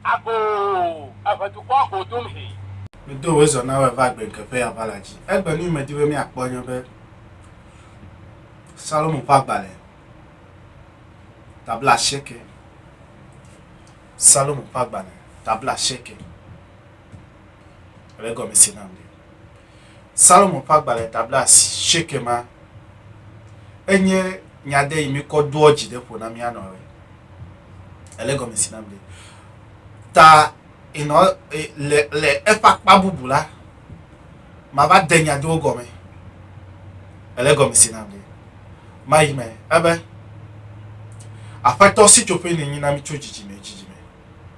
Ago, eve dukɔ go dum hee. Medo wòe zɔ na wòe va gbe ŋke ƒe aʋala dzi. Egbe nu yi medi be míakpɔ nye be Salomo ƒe agbalẽ tabla asieke. Salomo ƒe agbalẽ tabla asieke. Ele egɔme se nam ɖe. Salomo ƒe agbalẽ tablasi sheke ma enye nya ɖe yi mikɔ doɔ dzi ɖe ƒo na mía nɔ re. Ele gɔme si nam ɖe. Ta inɔ e, le le eƒe akpa bubu la, mava de nya ɖewo gɔme. Ele gɔme si nam ɖe. Mayi me ebe Aƒetɔ sitsoƒe nènyi na mi tso dzidzime dzidzime.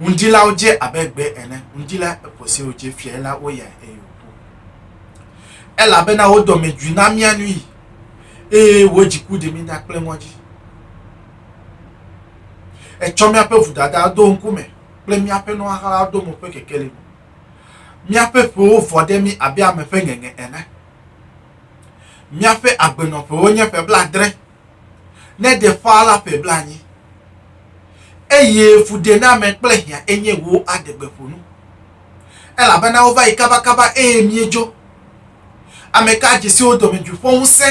Ŋudzilawo dze abe gbe ene, ŋudzila eƒo se wòdze fiae la, woyae, eye wòku. Elabena wò dɔmedzoe na mía nuyi, eye wò dziku ɖi mí ɖa kple ŋɔdzi. Ètsɔ míaƒe vodadawo do ŋkume, kple míaƒe nu xaxawo do mo ƒe kekeli me. Míaƒe ƒewo vɔ ɖe mí abe ame ƒe ŋeŋe ene. Míaƒe agbenɔƒewo nye ƒe blaadre, ne ɖe ƒãa la ƒe blaenyi, eye fuɖename kple hiã enye wò aɖegbeƒonu, elabena wova yi kabakaba eye míedzo. Ame ka dzi siwo dɔmedzoe ƒe ŋusẽ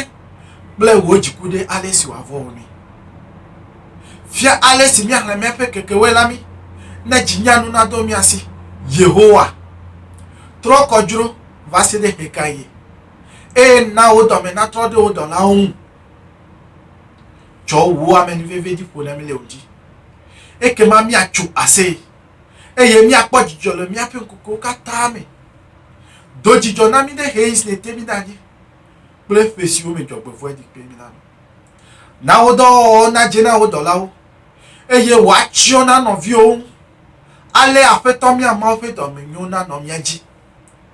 kple wò dziku ɖe ale si wòavɔ wò nɛ? Fia ale si míahlẽ míaƒe kekewoe la mí, ne dzi nyanu nadɔ mía si. Yehowa, trɔ kɔdzro vaseɖe ɣekaɣie? eye na wò dɔme natrɔ ɖe wò dɔlawo ŋu. Tsɔ wò amenuveve dzi ƒo nemi le wò dzi. Ekema míatso aseye, eye míakpɔ dzidzɔ le míaƒe ŋkukewo katã me. Do dzidzɔ na mí ɖe ɣeyiɣi si nète mí ɖa dzi kple ƒe siwo me dzɔgbevɔ̃e ɖi kple mí la me. Na wò dɔwɔwɔwo nadze na wò dɔlawo, eye wò atsyɔ̃ na nɔviwòwo ŋu. Alea Aƒetɔ mía Mawu ƒe dɔme nyo nanɔ mía dzi.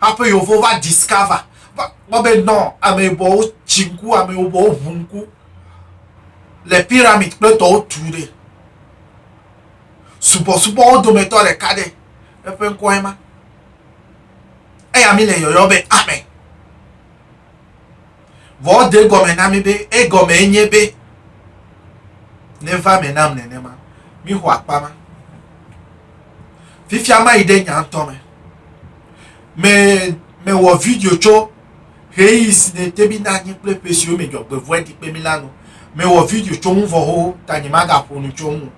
Haƒe yewo va discover, va kpɔ be nɔ ame yibɔwo tsi ŋku, ame yibɔwo ʋu ŋku le pyramid kple tɔwo tu ɖe. Subɔsubɔwo dometɔ ɖeka ɖe, eƒe ŋkɔe ma. Eya mi le yɔyɔ be ame. Vɔ ede egɔme na mí be egɔmee nye be neva me nam nenema. Míxɔ akpa ma. Fifia mayi ɖe nya ŋutɔ me. Me mewɔ video tso ɣeyiɣi si nete mí na anyi kple ƒe siwo me dzɔgbevɔ̃e ɖi kpe mí la nu. Mewɔ video tso ŋu vɔ xoxo ta nyemagaƒo nu tso ŋu o.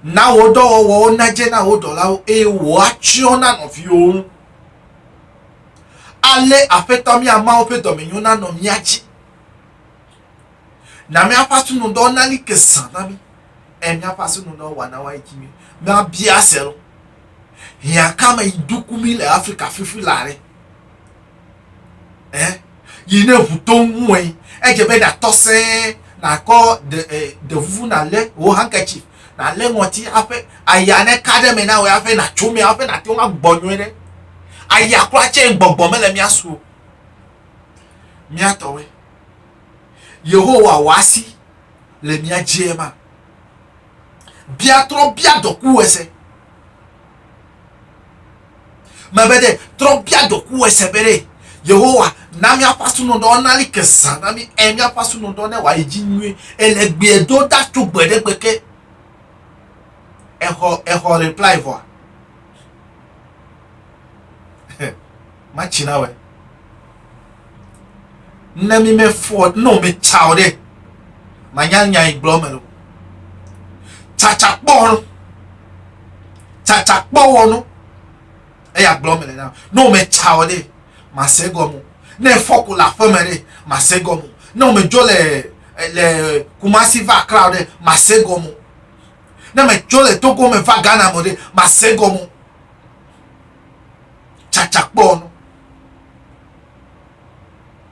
Na wò dɔwɔwɔwo nadze na wò dɔlawo eye wò atsyɔ̃ na nɔviwò ŋu. Ale Aƒetɔ mía Mawu ƒe dɔmenyo nanɔ mía dzi. Na míaƒe asinudɔ nali ke zã na mí, eye míaƒe asinudɔ wɔna wa edzi mí. Míabia se lɔ. Hiã ka me yi duku mí le Afrika fifi la ɖe? Eh? Yi ne ŋu to ŋu wɔ yi, edze be natɔ sẽe nakɔ de eh, de vuvu nalé wò hanketsi nalé ŋɔti hafi aya ne ka ɖe me na wò hafi nàtso me hafi nàte ŋu agbɔ nyuie ɖe. Aya kura tse gbɔgbɔ mele mía su o. Mía tɔwoe. Yehowa wɔ asi le mía dzie ma. Bia trɔ bia dɔkuwɔse. Mebe ɖe trɔ bia doku ese be ɖe Yehowa na míaƒe asunɔdɔ nali ke zã na mí eye míaƒe asunɔdɔ ne wòayi dzi nyuie eye le gbea do ɖa tso gbe ɖe gbe ke. Exɔ exɔ reply vɔa. Matsi na wɛ. ne mi me fɔ ne o me tsa o ɖe ma nya nya yi gblɔ me lo tsatsa kpɔ no tsatsa kpɔ wɔ no eya gblɔ me le na ne o me tsa o ɖe ma se gɔmu ne fɔ ko la fɔ me ɖe ma se gɔmu ne o me dzo le le kumasi va akra o ɖe ma se gɔmu ne me dzo le togo me va ghana mo ɖe ma se gɔmu tsàtsàkpɔ nɔ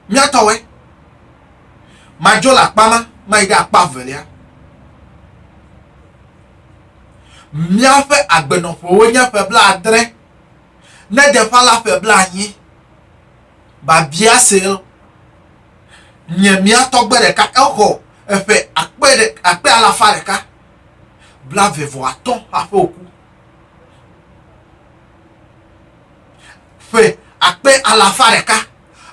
míatɔwɛ. Madzo le akpa ma mayi ɖe akpa velia. Míaƒe agbenɔƒewo nye ƒe blaadre, ne de ƒã la ƒe blaenyi. Babia Sel, nye mía tɔgbe ɖeka exɔ eƒe akpe ɖe akpe alafa ɖeka blaeve vɔ atɔ̃ hafi wòku. ƒe akpe alafa ɖeka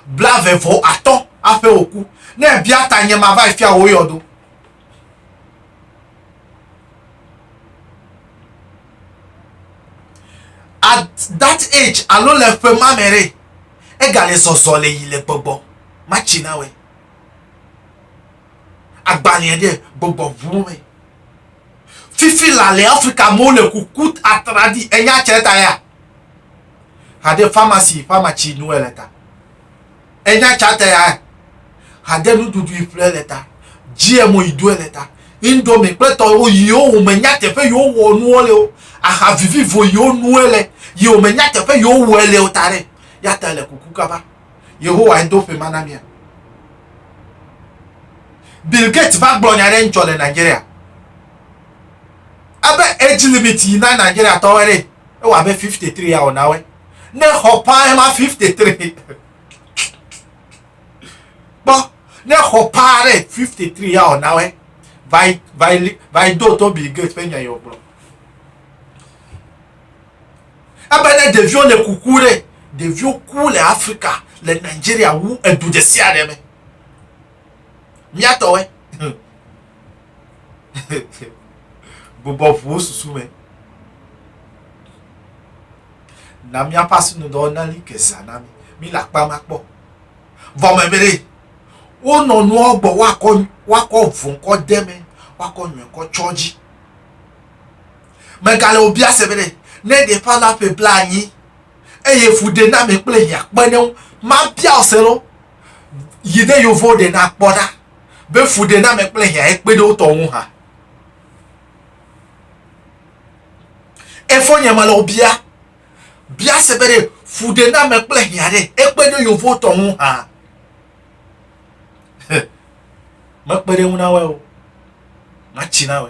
blave vɔ atɔ̃ aƒe wòku. Ne èbia ta nye mava yi fia wò yɔdo. At that age alo le ƒe ma me ɖe, egale zɔzɔ le yi le gbɔgbɔ matsi na wɛ. Agbalẽ ɖe gbɔgbɔ ʋu me. Fifi la le Afrika amewo le kuku atraɖi enya tsɛ ta ya. Hade famasi famatsi nuwɛ le ta. Enya tsɛ ta ya. Hade nuɖuɖu iƒlɛ le ta. Djiɛ mo idoɛ le ta. Indomie kple tɔ wo yiwo wo me nya teƒe yiwo wɔ nuwɔ le wo. Aha vivivo yiwo nuwɛ le yiwo me nya teƒe yiwo wɔɛ le wo ta ɖe. Ya ta le kuku kaba. Yehowae do ƒe ma na mía. Bill Gates va gblɔ nya ɖe ŋtsɔ le Nigeria. Ebe age limit yi na Nigeria tɔwɔe ɖe, ewɔ abe 53 ya wòna wɛ. Ne xɔ paa ema 53. Kpɔ, ne xɔ paa ɖe 53 ya wòna wɛ. Vai, vai, vai do to Bill Gates ƒe nya yi wògblɔ. Ebe ne ɖeviwo le kuku ɖe, ɖeviwo ku le Afrika, le Nigeria wu edu ɖesiaɖe me. Míatɔwɔe. Bubɔ ʋu wo susu me. Na míaƒe asinudɔ nali ke zã na mí. Míle akpa ma kpɔ. Vɔ me be wonɔ nuawo gbɔ woakɔ woakɔ vɔnkɔ de me, woakɔ nyɔkɔ tsɔ dzi. Megale wò biase be ɖe ne ɖeƒã la ƒe blaenyi eye fuɖename kple hiã kpe ɖe ŋu mabia wò se lo? Yi ɖe yewovo ɖe na kpɔ ɖa be fuɖename kple hiãe kpe ɖe wo tɔ ŋu hã. Efonye mele wò bia biase be ɖe fuɖename kple hiã ɖe ekpe ɖe yewovo tɔ ŋu hã. Mekpe ɖe ŋu na wɔ o. Matsi na wɔ.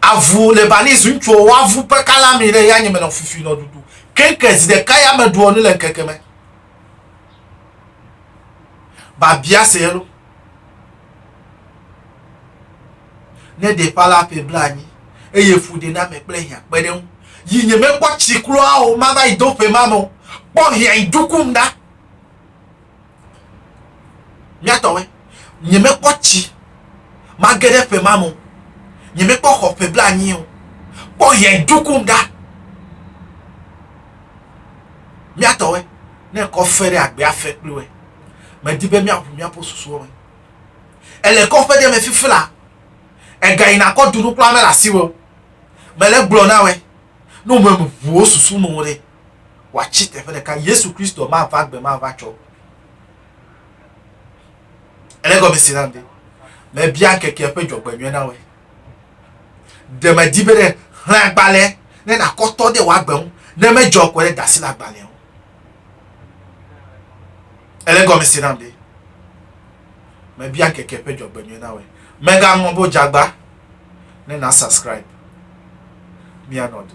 Avu le bani zi ŋutsuwo wo avu pe kala mi ɖe ya nye me nɔ fufi nɔ dudu kenke zi ɖeka ya me ɖuɔ nu le ŋkeke me ba bia se yelo ne ɖe pala pe bla anyi eye fu ɖe na me kple hia kpe ɖe ŋu yi nye me kpɔ tsi kloa o ma va yi do pe ma me o kpɔ hia yi dukum da Míatɔwɔe. Nyemekpɔ tsi mage ɖe ƒe ma me o. Nyemekpɔ xɔ ƒe blanyi o. Kpɔ ʋedukum ɖa. Míatɔwɔe. Ne kɔ fe ɖe agbea fe kpli wɔe. Medi be míaʋu míaƒe susuwo me. Ele kɔƒe ɖe me fifi la. Ega yina kɔ dunu kura mele asiwò o. Mele gblɔ na wɔe. Ne wò me ʋu wò susu me o ɖe. wòatsi teƒe ɖeka, Yesu Kristo mava gbe ma va tsɔ. Ele gɔme si nam be mebia ŋkekea ƒe dzɔgbenyuie na woe. Ɖe medi be ɖe xlẽ agbalẽ ne nakɔtɔ ɖe wòagbe ŋu ne medzɔ kɔ ɖe dasi le agbalẽa ŋu. Ele gɔme si nam be mebia ŋkekea ƒe dzɔgbenyuie na woe. Megaŋlɔ bo dzagba ne na subscribe. Mianɔ du.